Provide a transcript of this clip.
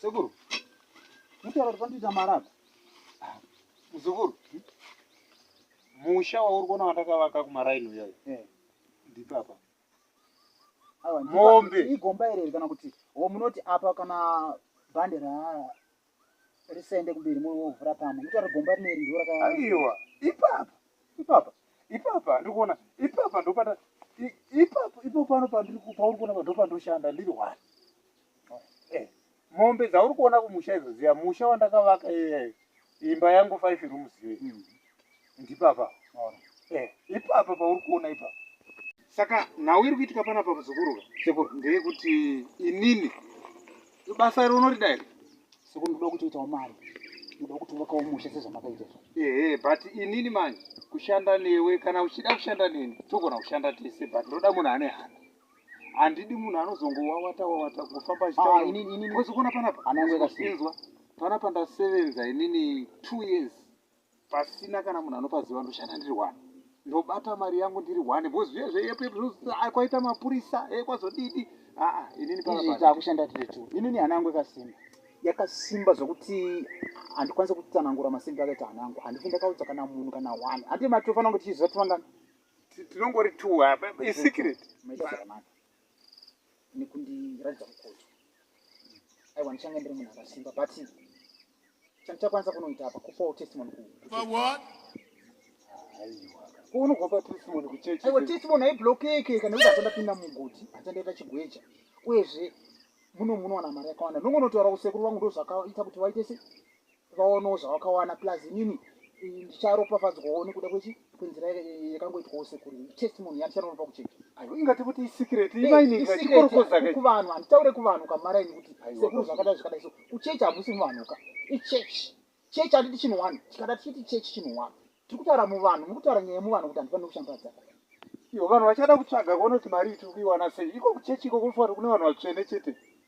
Sekuru. Mutaura kuti pandiita marata. Muzukuru. Musha wauri kuona watakavaka kumaraini uyoyo. Eh. Ndipapa. Mombe. Igomba iri kana kuti wo munoti apa kana bhandera risende kumberi moyo wovhura pamwe mutaura gomba rineri ndo raka aiwa ipapa ipapa ipapa ndikuona ipapa ndopata ipapa ipo pano pandiri pauri kuona pa ndopandoshanda ndiri one eh, mombe dzauri kuona kumusha idzo ziya musha wandakavaka iyeyo imba yangu five rooms iyoyo mm. ndipapa maona eh ipapa pauri kuona ipapa saka nhau iri kuitika pana pa muzukuru sekuru ndeyekuti inini ibasa iri unorida here sekuru ndoda kutoitawo mari ndoda kutovokawo musha sezvamakaita ehe but inini manje kushanda newe kana uchida kushanda neni togona kushanda tese but ndoda munhu ane hana handidi munhu anozongowawata wawata kufamba achitaozokuona ah, panapa inzwa panapa ndasevenza inini two years pasina kana munhu anopaziva ndoshanda ndiri wani ndobata mari yangu ndiri wani bcause zviye zveyekwaita mapurisa e kwazodidi aa inini paakushanda tiri two inini hana yangu ikasimba yakasimba zvokuti handikwanisa kutsanangura masimba akaita hana yangu handifi ndakaudza kana munhu kana one handi matofanange tichiziva tivangani tinongori two isikireti nekundiratidza mukoto aiwa ndichanga ndiri munhu akasimba but chandichakwanisa kunoita apa kupawo testimony kuunogopa testimony kuchechi aiwa testimony haiblokeke kana kuti achandapinda mugoti achandaita chigweja uyezve muno munowana mari yakawanda nongonotaura kusekuru vangu ndozvakaita kuti vaite se ukawanawo zvawakawana plus inini ndicharopafadzwawo nekuda kwechi kwenzira yakangoitwa ose kuri testimony yandichanonopa kucheka ingati kuti isikireti eh, imainiikorokozakuvanhu handitaure kuvanhu kamara ini kuti sekuru zvakadai zvakadai so kuchechi hamusi muvanhuka ichechi chechi handiti chinhu wani tikada tichiti chechi chinhu wani tiri kutaura muvanhu muri kutaura nyaya yemuvanhu kuti handifanire kushambadza iyo vanhu vachada kutsvaga kuona kuti mari iti kuiwana sei iko kuchechi iko kunofanira kune vanhu vatsvene chete